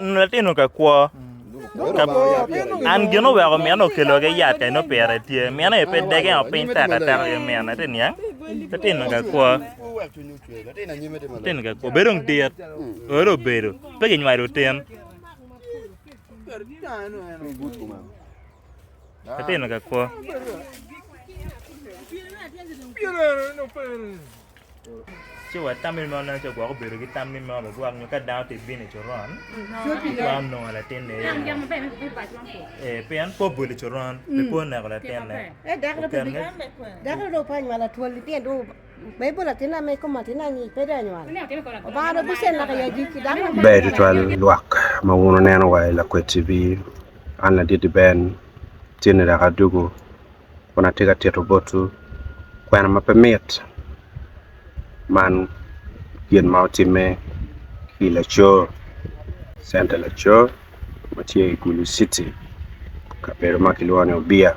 Latino ka kwo. An gin oweko mine okelo ki yat ka ino pire tye. Mine aye pe dege o piny teka teka ki mine ti niang. Latino ka kwo. Latino ka kwo. Bedo ng dit. Oro obedo. Pe ki nywalo tin. Atino ka kwo. Ci wa tam ni meno nen calo gwok obedo ki tam ni meno bigwok nyo ka dano tye bino i coron twero nongo latinne iye moo. Ee pien pe obolo i coron pe oneko latinne. Oken-ge. Ber tutwal lwak ma wun wuneno wa i Lakwed TV. An Laditi Ben, tye ni lak adugu kun atye ka tito botwu kwena ma pe mit man gin ma otimme ki i Laco, Center Laco ma tye i Gulu City, kabedo ma kilwongo ni Obiya.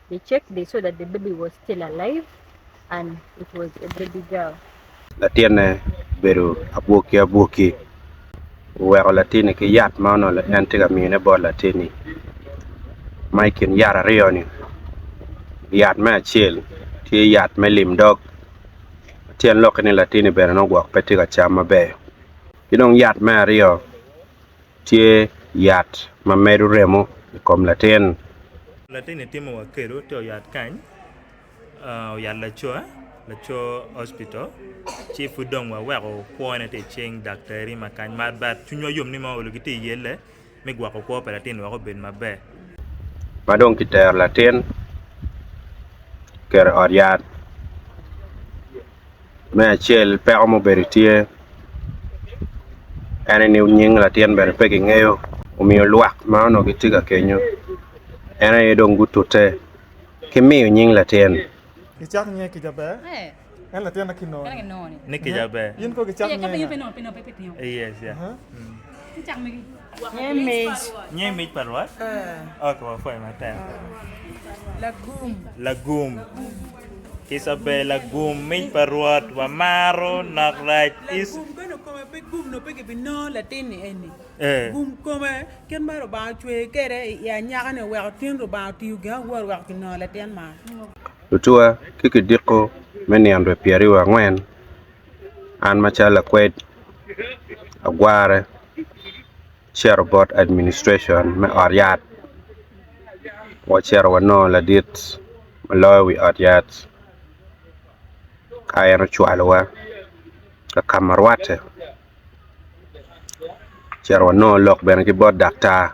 They checked they saw that the baby was still alive and it was a baby girl. Latinne obedo abwoki abwoki. Oweko latinni ki yat ma onongo en tye ka miyone bot latinni. Ma i kin yat aryo-ni, yat me acel tye yat me lim dog ma tyen lokke ni latinni bene nongo gwok pe tye ka cam maber. Ki dong yat me aryo. tye yat ma medo remo i kom latin. Latin-ni timo wa kelo te oyat kany, oyat lacowa, laco hospital, ci pud dong wa weko kwone te icing daktari ma kany ma but cwiny wa yom ni ma ongo giti iyelle me gwoko kwo pa latin weko obed maber. Ma dong ki tero latin kero i ot yat. me acel peko ma obedo tye en aye ni nying latin bene pe ki ngeyo omiyo lwak ma onongo ki tye ka kenyo en aye dong gutute ki miyo nying latin Isabel Agum mic pa Rwot wamaro nok rac is. Lagum bene kome pe gum nongo pe gibinongo latin ni eni. Gum kome kit ma Lubanga ocweye kwede i anyaka-ni oweko tin Lubanga otiyo gin awor weko kinongo latin man. Lutuwa ki kidiko me nino dwe pyeraryo angwen, an macalo lakwed agwarre. cito bot administracion me ot yat wacito wanongo ladit ma loyo wi ot yat ka en ocwalowa ka ka ma rwatte ocito wanongo lok bene ki bot daktar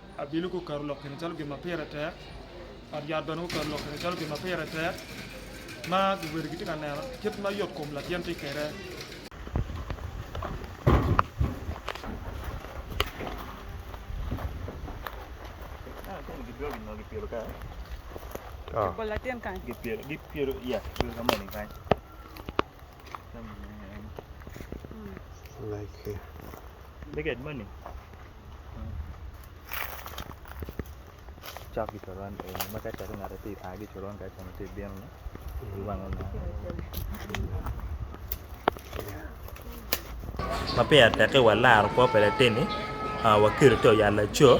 Abili guketo lok kine calo gin ma pire tek, ot yat bene guketo lok kine calo gin ma pire tek, ma luwil gitye ka neno kit ma yot kom latin tye kwede. Ma peya tekke wa laro kwo pa latinni wa kelo te oyal laco.